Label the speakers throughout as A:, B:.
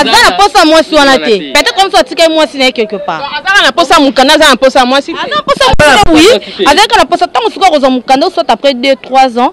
A: aza na posa mwasi wana te peut-être comme ça atika mwasi na ye quelque part azalaka na posa mukanda
B: aza na posa mwasi aza na posa mukanda oui
A: azalaka na posa ntango sikoyo akozwa mukanda soit après 2 3 ans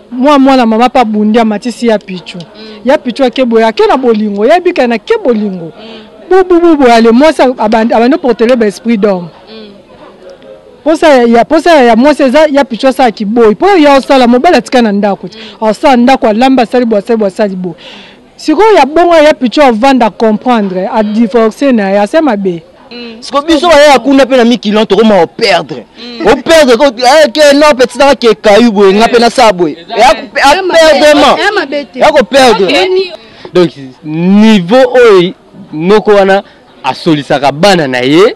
C: Mwa mwana mama pa bundi amatisi ya pichu. Ya pichu ake boye ake na bolingo. Ya bika na ke bolingo. Bubu bubu ya le mwasi abandi abandi portele ba esprit d'homme. Posa ya posa ya mwasi eza ya pichu asala kiboyi. Po ya osala mobali atika na ndako. Asala ndako alamba sali bwa sali bwa sali bo. Sikoyo ya bongo ya picho avanda comprendre a divorcer na ya sema be. Mm. Siko biso ba
D: ya kuna pe na mikilon to koma o perdre. Mm. O perdre ko eh ke no petit na ke kayu boye nga pe na sa boye. Ya ko perdre ma. Ya ko perdre. Donc
B: niveau oyo noko wana asolisaka bana na ye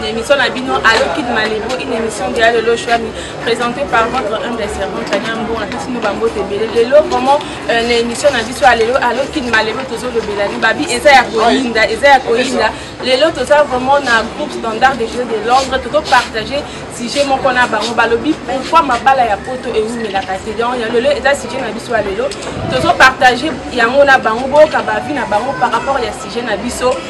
E: na émission na bino allo kid malibu une émission de alolo shwami présentée par votre humble servant tania mbongo apesi bino bambote ebele lelo vraiment euh, na émission na biso ya lelo allo kid malibu tozolobela libabi eza ya koyinda eza ya koyinda lelo toza vraiment na groupe standard de jeu de londres tozopartage sujet moko na bango balobi pourquoi mabala ya poto ewumelaka te donc ya lelo eza sujet na biso ya lelo tozopartage yango na bango boyoka bavi na bango par rapport ya sujet na biso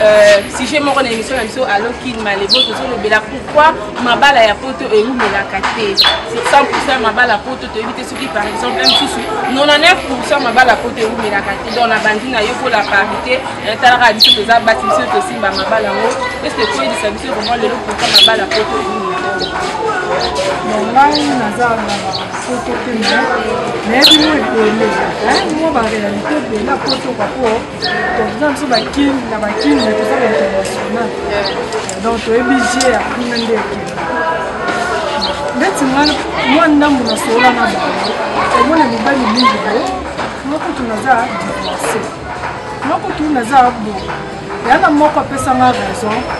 E: Euh, sujet moko na émission na biso alo kin malebo tozolobela pourquoi mabala ya poto ewumelaka te 100 mabala poto toyebi te soki par exemple mosusu 99 mabala poto ewumelaka te donc nabandi na yo mpo la parité natalaka biso toza basi biso tosimba mabala yango eske koyebisa biso vraiment lelo pourquoi mabala poto ewumelaka ngai naza na
C: poto te nayebi mwa ebele mwa barealité ebele apoto kapo toza biso bakini na bakini me toza ba international donc toyebi je ya kuna nde ekende ndeti ngai mwa ndambo nasolola na bango omona mibali mingi bo mokutu naza divorce mokutu naza bo yana moko apesanga raison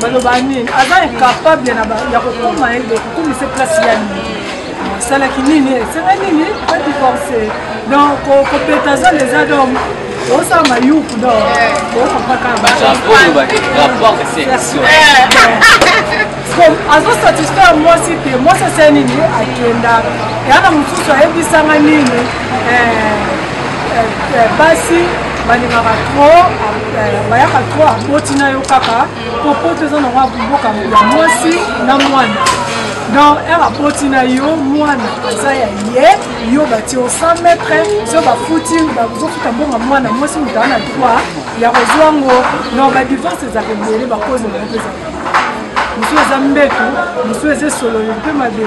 C: baloba nini aza incapable ya kokoma ye donc okomisa place ya nini asalaki nini esala nini adivorce donc kopeta zala eza donc osala mayuku donc azosatisfaire mwasi te mwasi asala nini akenda yana mosusu ayebisanga nini basi balingaka tro bayaka tro aboti na yo kaka po poto eza nango mboka ya mwasi na mwana donc ere aboti na yo mwana aza ya ye yo bati o 100 mètre so bafuti bazofuta mbongo mwana mwasi moto ana droit ya kozwa ngo donc badivorce ezaka ebele bakozi na yango mpeza mosusu eza mbeto mosusu eza esololo mpe mabe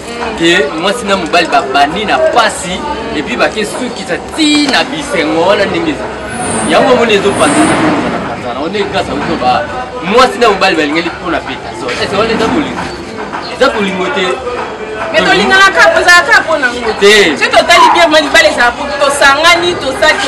F: ke mwasi na mobali babandi na pasi epuis bake sukisa ti na bisengo wana ndenge eza yango omoni ezopanzanapanzana wana ekasa biso ba mwasi na mobali balingeli mpo na petaso ese wana eza bolingo eza bolingo te mais
E: tolingana kaka ezalaka kaka mpo nango te soki totali bien ma libala ezala mpo tosangani tosaki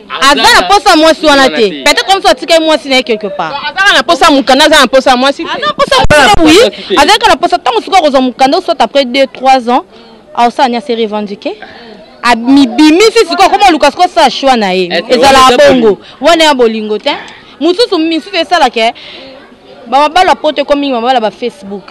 A: aza na posa mwasi wana te peut-être comme ça atika mwasi na ye quelque part azaka na posa mukanda aza na posa mwasi aza na posa mukanda oui azalaka na posa ntango sikoyo akozwa mukanda soit après 2 3 ans aosala ni ase revendiquer mibimisi sikoyo akoma luka sikoyo asala choix na ye eh, ezalaka bongo wana ya bolingo te mosusu misusu esalaka bamabalo ya poto ekomi mingi mabalo ya bafacebook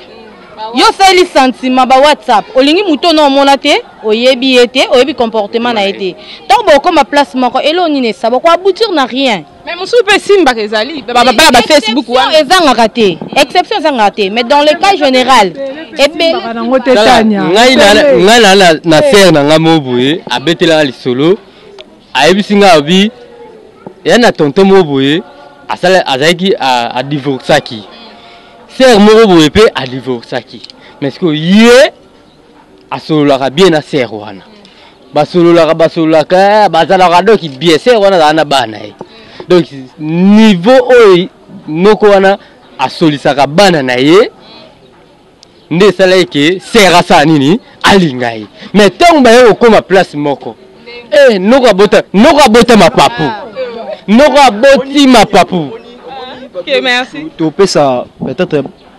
A: yo osaleli sentiment ba whatsapp olingi moto ono omona te oyebi ye te oyebi comportement na ye te ntango bokoma place moko eloo nini esa boko aboutir na rien mais mosusu mpe esimbaka
E: ezali babala bafacebook wana ezangaka te
A: exception ezangaka te mais dans le cas général
B: ngai naa na sere na ngai moko boye abetelaka lisolo ayebisi ngai abi ya na tonton moko boye azalaki adivorcaki sere moko boye mpe adivorcaki mais sikoyo ye asololaka bien na sœur wana basololaka basololaka eh, bazalaka donc bien sœur wana azala na bana ye donc niveau oyo noko wana asolisaka bana na ye nde esala ye ke sœur asala nini alinga ye mais ntango baye kokóma place moko eh, noko abota noko abota mapapu ah, noko aboti mapapu
E: topesa
D: peut-être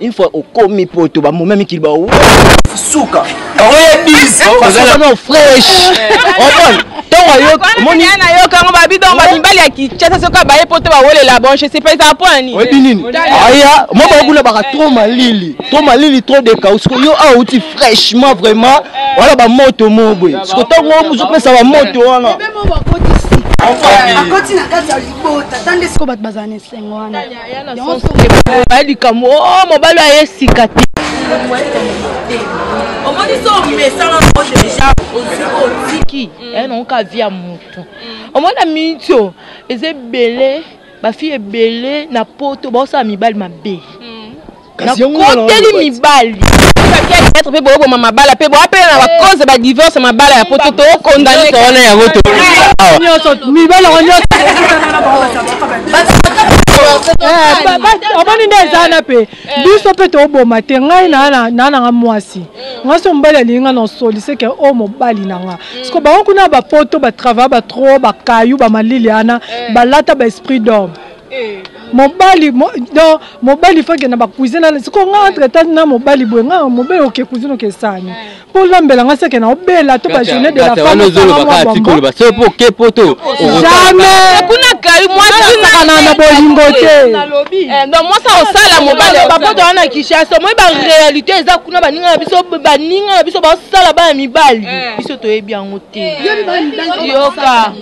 D: une fois okomi poto bamoma mikili bao suka oya bisoazalano fresh omoni ntongo ayomoni
E: nayokango babidon bamibali ya kichasa soki abaye poto bawolela bon je sais pas eza mpo nani oyebi nini aya
D: mo bakuna baka trop malili trop malili trop dekau siko yo awa outi fraîchement vraiment wana bamoto mo boye siko ntango mozopesa bamoto wana akoti na
G: kati ya libota tande siko bato bazala na esengo wana
A: baya likambo o oh, mobali oyo aye sika te
H: omoni so omesana ngo deja otiki
A: eh, naoka vi ya motu mm. omoni na miniti oyo eza ebele bafille ebele na poto baosala mibali mabe mm. nakoteli mibali maître mpe boyoboma mabala mpe boapela na bakoze eh. badivorce mabala ya poto tokondamesa wana yango
C: mibali yango nyonso omoni nde eza wana mpe biso mpe toboma te ngai naa nanga mwasi ngai so mobali alingi ngai nosoli seke o mobali na nga siko bango kuna bapoto batravaille batro bakayu bamalili ana balata baesprit d'homme mobali mo, donc mobali faut akenda bakuize na siko nga entre temps na mobali boye nga mobali oke kuizine okesani mpo olambela nga seke na obela to bajourne de la fammeolobaka
B: soki mpo
C: oke poto
B: jamais
C: kuna kai
B: mwasiakana
C: na bolingo te eh, donc mwasi
A: akosala mobali bapoto wana na kinshasa omoi baréalité eza kuna baninga na biso baninga na biso basala bana mibali eh. biso toyebi yango te eh. yoka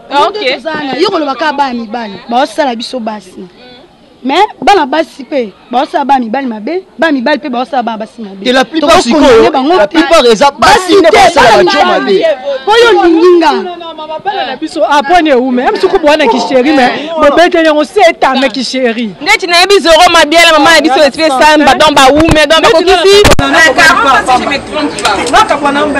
G: Ah, okay. tozana yo koloba kaka bana mibali baosala biso basi me bana basi mpe baosala bana mibali mabe bana mibali mpe baosala bana basi mabe te la plupart sikoyo
D: la plupart eza basi nde basala bajo mabe mpo yo olingi nga
G: mabala na
C: biso apone eume ya misuku bwana kisheri me bobete yango se etame kisheri ndeti nayebi zoro
A: mabiala mama na biso esprit samba don baume don bakokisi nakabwana
C: mbe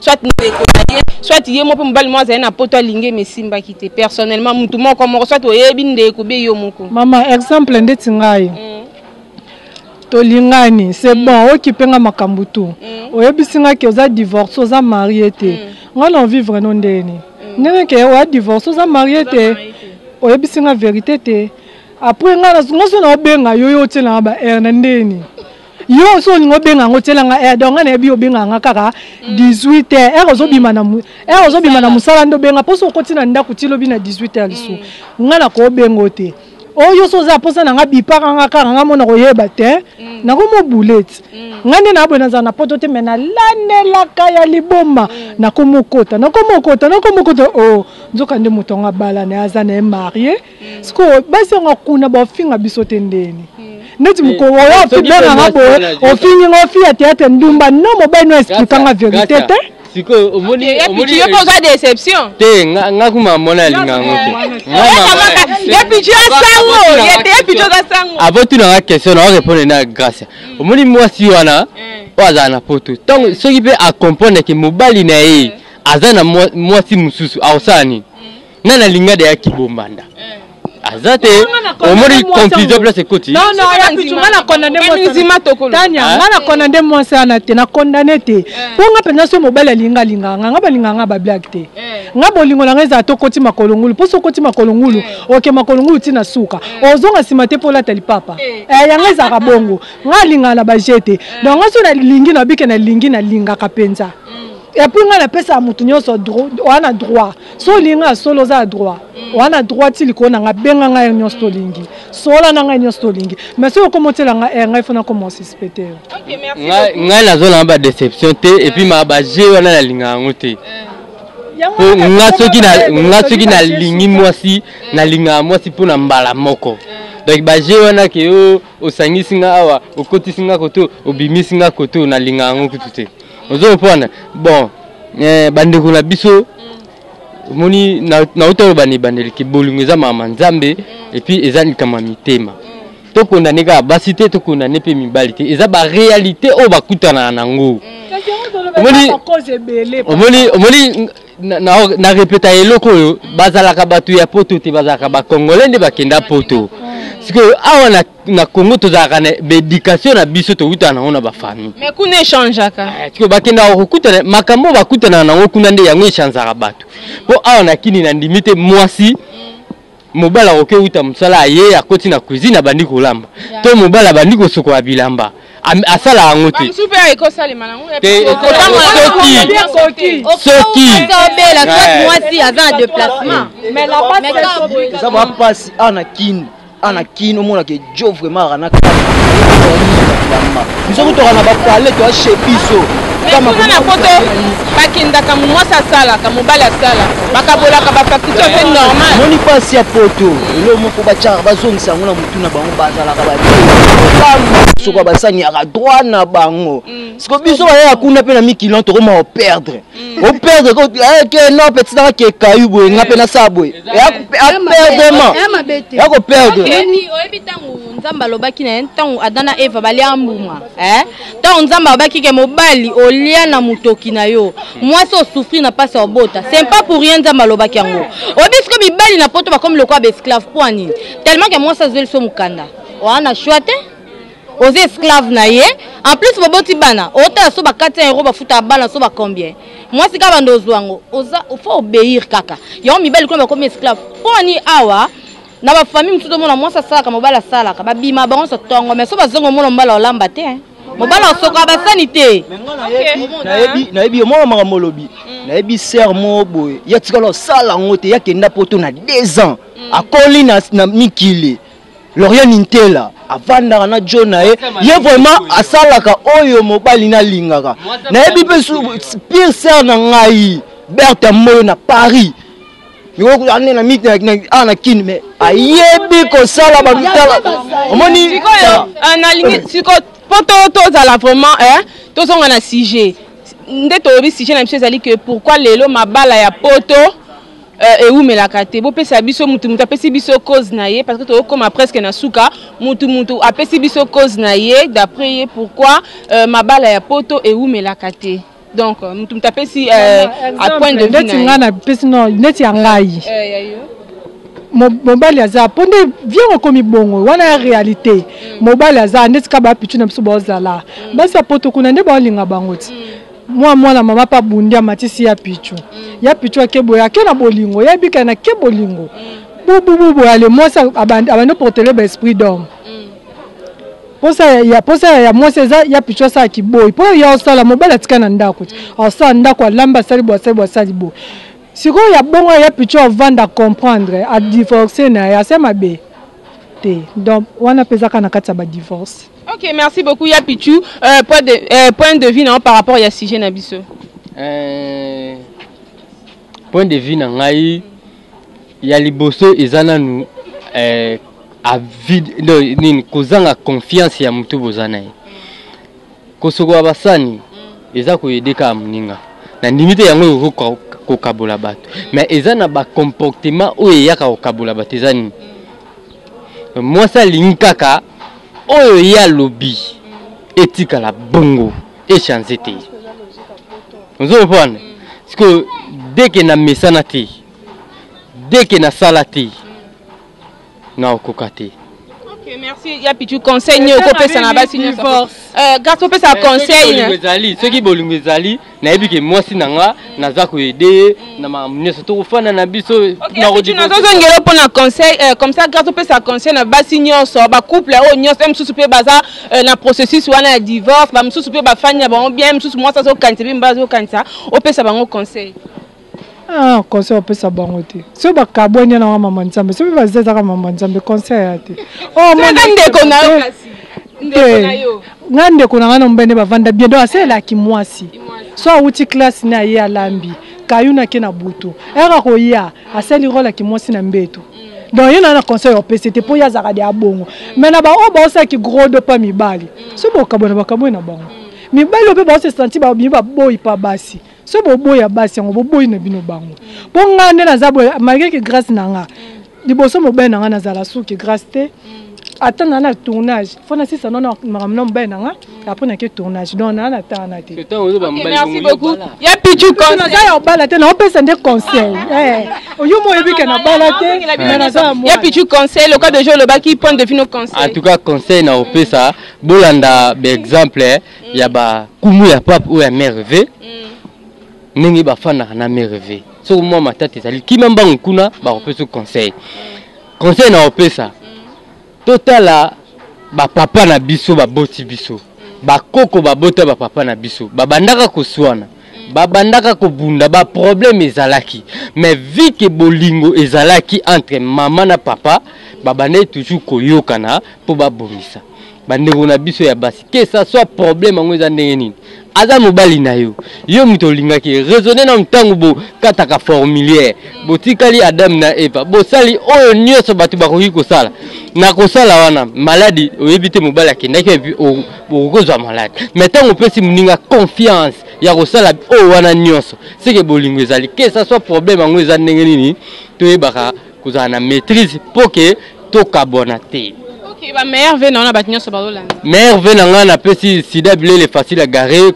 A: soit ndeko na ye soit ye moko mpe mobali moko azali na poto alingi eme esimbaki te personnellement motu moko moko soit oyebi ndeko be yo moko mama exemple
C: ndeti ngai mm. tolingani c'est mm. bon okipe nga makambo tu mm. oyebisi nga ke oza divorce oza marie te mm. nga na ovivre no ndeni mm. ndenge ke oya divorce oza marie te oyebisi nga verité te après nga nga so na obenga yo yo otiela nga ba aire na ndeni yo oso olingi obenga yango otyela nga heure donc nga nayebi obengaka nga kaka 18 heure heure ozobima na heure ozobima na mosala nde obenga mposo okoti na ndako ti lobi na 18 heure lisusu mm. nga nakoobenga o te oyo so oza mposa na nga bipaka nga kaka nga mona koyeba te mm. nakomo buleti mm. nga nde naboye nazala na poto te me nalanelaka ya liboma nakomokota nakomokota nakomokota o oh, nzoka nde moto yango abala na ye aza na ye marie sikoyo basi yango kuna bafinga biso te ndeni neti mokolo oyo ofibenganga boye ofingi nga ofi ya théâtre ndumba no mobali no explikanga verité te sikoyo omoni
B: omoni yo oza
A: déception te nga kuma
B: mona linga ngo te ye
A: pichu asango ye te ye pichu asango abo tuna nga question
B: na répondre na grâce omoni mwasi wana oyo azala na poto tango soki pe a comprendre ke mobali na ye aza na mwasi mosusu akosala nini nga na linga de ya kibombanda aza te omoni confusion place ekoti
C: nononga na condamne eh. mwasi wana te na condamne te eh. mpo nga mpenza soki mobali alinga alingaka nga nga balingaka nga bablake te eh. nga bolingo na nga ezala to koti makolo ngulu mpo soki okoti makolo ngulu oke makolo ngulu ti na suka ozonga nsima te mpo olata lipapa yango ezalaka bongo nga alingaka na baje te donc nga soki nalingi nabike nalingi nalingaka mpenza mm. epuis nga napesaka moto nyonso wana droit so olingi nga ya solo oza ya droit wana droit ti likolo na nga benga ngai yo nyonso tolingi sola na ngai nyonso tolingi mais soki okoma otyela ngai eh, ngai fo nakoma osuspecte yo
A: ngai nazala na
B: badeception te epuis ma baje wana nalinga yango te po nga soki nalingi mwasi nalingaka mwasi mpo na mbala moko donc baje wana ke yo osangisi nga awa okotisi nga koto obimisi nga koto nalinga yango kutu te ozo comprendre bon eh, bandeko na biso omoni nauta oloba na ebandeli ke bolingo eza mama nzambe epuis eza likambo ya mitema tokondane kaka basi te tokondane mpe mibali te eza barealité oyo bakutanaka nango omoni na, na, na repeta eloko oyo bazalaka bato ya poto te bazalaka bakongole nde bakenda poto sikoyo awa na, na congo tozalaka na baedikatio na biso tokutana nango na bafamille mais kuna echangeaka
A: eh, sikoyo bakendaka
B: kokutana makambo oyo bakutanaka nango kuna nde yango echanzaka bato mpo awa na kini na ndimi te mwasi mobali akoki kouta mosala aye akoti na cuisine abandi kolamba to mobali abandi kosukola bilamba asala yango te soki obela soit
H: mwasi aza na déplacement
C: eza bapasi
D: ana kin ana kin omonaka jo vraiment aka na kama biso kutoka na bapale toa chez biso kuna na
A: poto bakendaka mwasi asalaka mobali asala bakabolaka bafacture mpe normal moni mpasi ya poto
D: elo moko batyaka bazongisa yango na motu na bango bazalaka basoko basaniaka droit na bango mm. siko biso bayaka kuna mpe na mikilon tokoma operdre o perdre ko eh, ke no petit na ke kayu boye nga pe na sa boye ya perdement ya ko perdre oyebi tango
H: nzambe alobaki na ye ntango adam na eva balya mbuma eh? ntango nzambe alobaki ke mobali olya na motoki na yo mwasi osufri na mpasi ya obota c'est pas pour rien nzambe alobaki yango oyebi siko mibali na poto bakomi lokola baesclave mpo ya nini tellement ke mwasi azweli so mokanda wana shwa te oza
A: esclave na ye en plus boboti bana otala so bakati ya euro bafutaka bana so bacombien mwasi kaka banda ozwa yango oza fo obeir kaka yango mibali kuna bakomi esclave mpo ani awa na bafamille mosusu omona mwasi asalaka mobali asalaka babima bango nyonso tongo mai so bazongi omona mobali olamba te mobali osokola basani te
D: nayebi omona makambo olobi mm. nayebi ser moko boye ya tikala osala yango te yakenda poto na deux ans mm. akoli na mikili Lorien Nintela avandaka na John na ye ye vraiment asalaka oyo mobali nalingaka nayebi mpe pire sere na ngai Bertha Moyo na Paris ane na miti awa na kini me ayebi kosala bamitala omoni sikoyo
E: mpo tozala vraiment eh, tozonga na sujet nde tolobi sujet na biso ezali ke pourquoi lelo mabala ya poto Euh, ewumelaka te bopesa biso mutu mutu apesi biso cause na ye parce que tokokoma presque na suka mutu mutu apesi biso cause na ye d'après ye pourquoi euh, mabala ya poto ewumelaka te donc euh, mutu mutu apesi euh, à point de vue na ye apesi non
C: neti ya ngai euh, mobali aza mpo nde viango ekomi bongo wana ya réalité mm. mobali aza ndeti kaka bapitu na biso baozala mm. basi ya poto kuna nde baolinga bango ti mm. Mwa mwana mama mpe abundi amatisi ya pichu mm. ya pichu ake boye ake na bolingo ya ebika na ke bolingo mm. bububu boye ale mwasi abandi oportele ba esprit d'homme mm. posa ya posa ya mwasi eza ya pichu asala kiboyi mpo ya osala mobali atika na ndako ti mm. asala ndako alamba asali bo asali bo asali bo sikoyo ya bongo ya pichu avanda comprendre adivorce na ye ase mabe te donc wana mpe ezaka na kati ya badivorce ok merci beaucoup
E: ya pichu euh, point, de, euh, point de vue na yo par rapport ya sujet na biso euh,
B: point de vue na ngai ya liboso eza nanu euh, avide nini kozanga confiance ya motu boza na ye kosokola basani eza koyede kaka moninga na ndimi te yango ekoki kokabola bato mais eza na bacomportement oyo eyaka kokabola bato eza nini mwasi alingi kaka oyo ye alobi etikala bongo echange te ozo comprendre sikoyo deke na mesana te deke nasala te na okoka te ok merci
E: ya pichu conseil nini okopesa na basi nyonso eh, garso opesa eh, conseil ezali soki bolingo
B: ezali nayebi ke mwasi na nga mm. naza koyede ye mm. na makambo nyonso tokofanda na biso nazozongela
E: mpo na conseil eh, comme ça garso opesa conseil na basi nyonso bacouple oyo oh, nyonso ye mosusu mpe baza na processus wana ya divorce bamosusu mpe bafandi na bango bien mosusu mwasi azokanisa mpe mibali azokanisa opesa bango conseil Ah,
C: conseil opesa bango te. Soki bakabwani yana wa mama Nzambe, soki baza ezaka mama Nzambe, conseil ya te. Oh, mon ndeko na yo kasi. Ndeko
E: na yo. Nga ndeko na nga na
C: mbende bavanda bien. Donc asalela kimwasi. So awuti classe na ye alambi. Kayuna ke na butu. Era koya, asali role ya kimwasi na mbeto. Mm. Donc ye na na conseil opesa te po ye azaka de abongo. Mm. Mais na ba oyo baosala ki gros do pa mibali. Mm. So bokabwana bakabwe na bango. Mibali oyo pe baose sentir ba mibali baboyi pa basi. so boboya basi yango boboyi na bino bango mpo ngai nde naza boye malgre ke grâce na nga liboso mobali na ngai nazala suki grâce te ata na na tournage fo nasisa nona makambo na mobali na nga apres nake tournage donc naa natana te
E: ya pichu naza ya obala te naopesa
C: nde conseil eh, yo mo oyebi ke nabala te ya pichu conseil loka
E: deja olobaki point de vue no conseil en tout cas conseil
B: naopesa bolanda baexemple mm. ya ba kumu ya pape ou ya mère V mm. ndenge ba fandaka na mère V soki mwa matata ezali kima mbangu kuna bakopesa conseil mm. conseil na opesa mm. totala ba papa na biso baboti biso mm. bakoko babota ba papa na biso babandaka koswana babandaka kobunda baproblème ezalaki mais vi ke bolingo ezalaki entre mama na papa babandaki toujours koyokana mpo babongisa bandeko na biso ya basi que ça soit problème yango eza ndenge nini aza mobali na yo yo moto olingaki raisonne nanu ntango bokataka formulaire botikali adam na eva bosali oyo nyonso bato bakoki kosala na kosala wana maladi oyebi te mobali akendaki epi okozwa maladi mai ntango opesi moninga confiance ya kosala oyo wana nyonso seke bolingo ezali que ça soit problème yango eza ndenge nini toyebaka kozala na maîtrise mpo ke tokabwana te okay, ba meilleur ve
E: na wana bato nyonso bazolanda meilleur ve na ngai
B: napesi sida bilele facile ya gare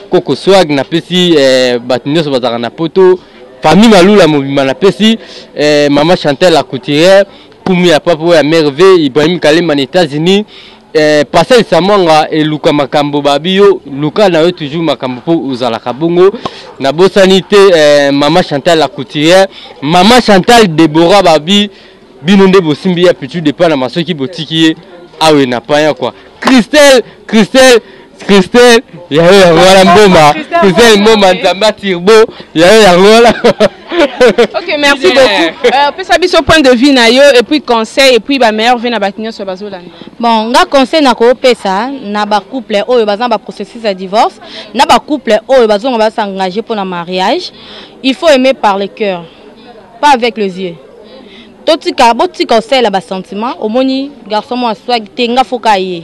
B: koko swag napesi eh, bato nyonso bazalaka na poto famille malula mobimba napesi eh, mama chantel la couturière pumu ya papa oyo ya merve ibrahim kalemba na états-unis Eh, Pascal Samwanga eluka makambo babi yo luka na yo toujours makambo mpo ozalaka bongo nabosani te eh, mama Chantal la couturière mama Chantal Deborah babi bino nde bosimbi ya pitu depa na masoki botiki ye awe na paya kwa Christelle Christelle Christelle yayo ya Rwanda mboma Christelle mboma nzamba turbo yayo ya Rwanda Ok
E: merci yeah. beaucoup euh, pesa biso point de vue na yo et puis conseil et puis ba meilleur vie na ba kinyoso bazolanda bon nga conseil
A: na ko pesa na ba couple oyo bazana ba processus ya divorce na ba couple oyo bazonga ba s'engager pour na mariage il faut aimer par le cœur pas avec les yeux totika botika osalela basentiment omoni garçon mwa swag te nga foka ye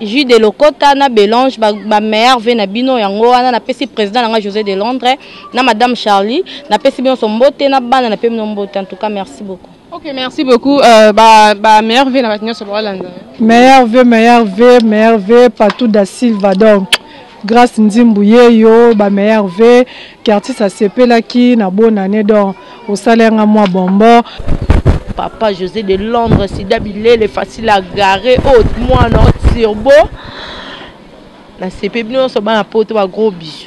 A: jus de lokota na belange ba, ba meilleur ve na bino yango wana napesi président na nga josé de londres na madame charlie napesi bino so mbote na bana na pe bino mbote en tout cas merci beaucoup Ok, merci beaucoup.
E: Euh, bah, bah, meilleur V, la maintenance sur Meilleur V,
C: meilleur V, meilleur V, partout da Silva. Donc, Grace Nzimbu yeyo ba meilleurs vœux ki artiste asepelaki na bonne annee donc osala nga mwa bonbon. Papa
I: José de Londres, Sida Bilele, facile à garer, haute, oh, moi, non, turbo. La CP, nous sommes à Poto, un gros bisou.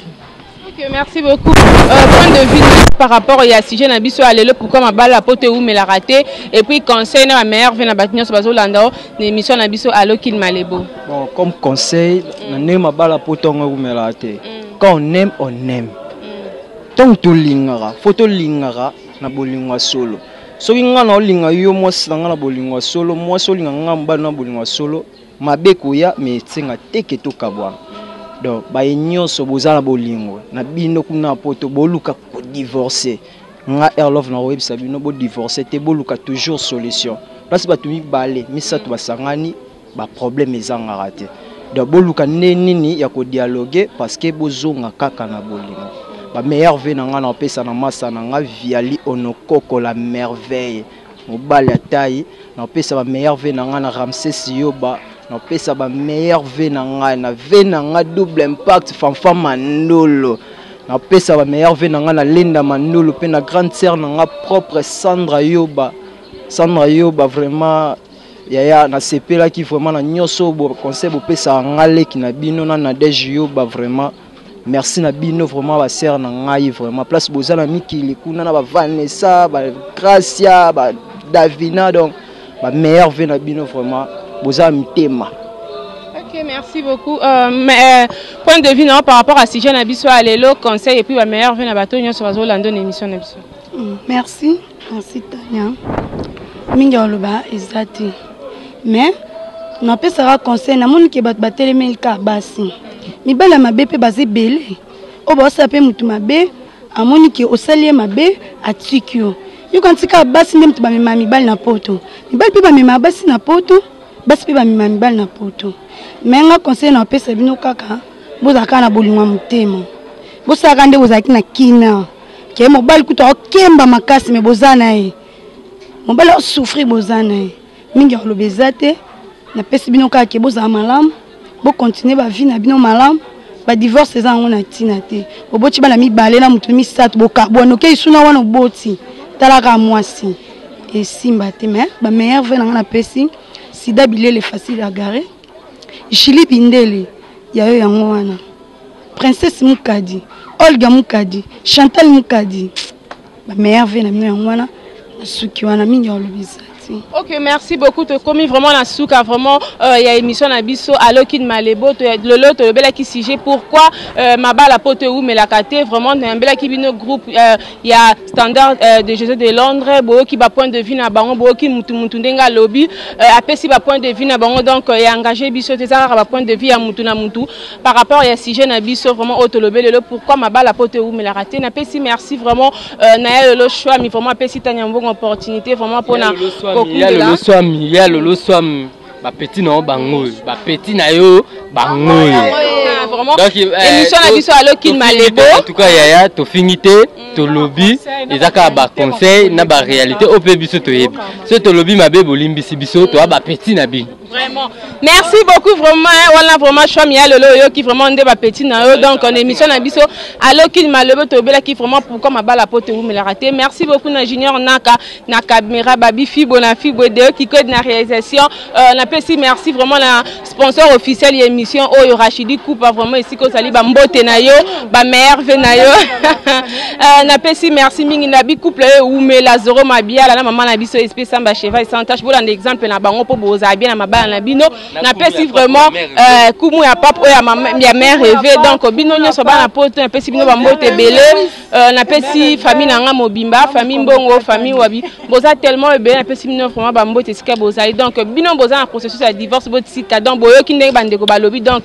I: Ok, merci
E: beaucoup. Euh, point de vue par rapport au sujet na biso ya lelo pourquoi mabala ya poto ewumela raté et puis conseil na bameilleur ve na bato nyonso bazolanda o na émission na biso alo kilmalebo Bon, comme conseil,
D: mm. na ndenge mabala po ntongo eumelaka te. Mm. Quand on aime, on aime. Mm. Ntango tolingaka, fo tolingaka na bolingo ya solo. Soki ngai na olinga yo mwasi na ngai na bolingo ya solo, mwasi olinga ngai mobali na bolingo ya solo, mabe koya me esenga te ke tokabwana. Donc baye nyonso boza na bolingo na bino kuna poto boluka kodivorce. Nga Erlove na koyebisa bino bodivorce te, boluka toujours solution. Place bato mibale misato basangani ba problème ezangaka te donc boluka nde nini ya ko dialoguer parce que bozonga kaka na bolingo ba meilleur vie na ngai na opesa na masa na ngai viali onokoko la merveille mobali ya tai na opesa ba meilleur vie na ngai na ramses yoba na opesa ba meilleur vie na ngai na vie na ngai double impact fanfa mandolo na opesa ba meilleur vie na ngai na linda mandolo mpe na grande sœur na ngai propre sandra yoba sandra yoba vraiment Yaya na sepelaki vraiment na nyoso bo conseil bo pesa nga leki na bino na Nadège Yoba vraiment merci na bino vraiment ba sœur na ngai vraiment place boza na mikili kuna na ba Vanessa ba Gracia ba Davina donc ba meilleur vie na bino vraiment boza mitema Ok,
E: merci beaucoup. Euh, mais, euh, point de vue non, par rapport à sujet na biso à l'élo, conseil et puis la meilleure vie na bateau, nous sommes là dans l'émission na biso. Mm, merci.
G: Merci Tania. Mingi ya oloba eza te. Mais napesaka conseil namoni ke bato batelemeli ka basi. Mibali ya mabe mpe baza ebele oyo baosala mpe motu mabe amoni ke osali ye mabe atiki yo. Yoka ntika basi nde moto bamemaka mibali na poto. Mibali mpe bamemaka basi na poto, basi mpe bamemaka mibali na poto. Mais nga conseil napesa bino kaka bozala kaka na bolingo ya motema. Bosalaka nde bozalaki na kina. ke mobali kutu akokemba makasi me boza na ye mobali aosouffrir boza na ye mingi ya koloba eza te napesi bino kaka ke bozala malamu bokontinue bavie na bino malamu badivorce eza yango na ntina te oboti bana mibale na moto misato bokabwana okei suna wana oboti talaka mwasi esimba te me bameilleur ve na ngai napesi sida bilele facile agare jili bindele yayo yango wana princesse mukadi olga mukadi chantal mukadi ba meilleur vie na bino yango wana nasuki wana mingi olobisa merci ok merci
E: beaucoup tokomi vraiment na suka vraiment euh, ya émission na biso alokine malebo lelo tolobelaki sujet pourquoi euh, mabala mpo towumelaka te vraiment nayambelaki bino groupe euh, ya standard euh, de josé de londres boyoki bapoint de vue na bango boyoki mutu mutu ndenge alobi euh, apesi bapoint de vue na bango donc euh, ya engage biso te eza kaka bapoint de vue ya mutu na mutu par rapport ya sujet na biso vraiment oyo tolobi lelo pourquoi mabala poto ewumelaka te napesi merci vraiment euh, na ya lelo shwami vraiment apesi tania mbongo opportunité vraiment mpona kokundelaoswami
B: ya lelo swami bapeti na yo bango oyo bapeti na yo bango oyo
A: émission na biso alokin malebo en tout cas yaya
B: tofingi te mm. tolobi eza kaka baconseil na baréalité oyo mpe biso toyebi soki tolobi mabe bolimbisi biso toya bapeti na bino Vraiment. Merci
A: beaucoup vraiment hein, wana vraiment choix mi alelo oyoki vraiment nde ba petit na yo donc en émission na biso allo kin malobo to bela ki vraiment pourquoi mabala po te wumela raté. Merci beaucoup na Junior Naka na Kamera Babi Fibo na Fibo de qui code na réalisation euh, na pesi merci vraiment na sponsor officiel ya émission oyo Rachidi Kupa vraiment ici ko sali ba mbote na yo ba merve na yo Euh, napesi merci mingi na bicouple oyo ewumela zoro mabiala na mama na biso espe samba cheval sans tache bolanda exemple na bango mpo bozala bien na mabala na bino napesi vraiment euh, kumu ya pape oyo ya mère reve donc bino nyonso bana poto napesi bino bambote ebele euh, napesi famille na ngai mobimba famille mbongo famille wabi boza tellement ebele napesi bino vraiment bambote esika bozali donc bino boza na processus ya divorce botika donc boyoki ndenge bandeko balobi donc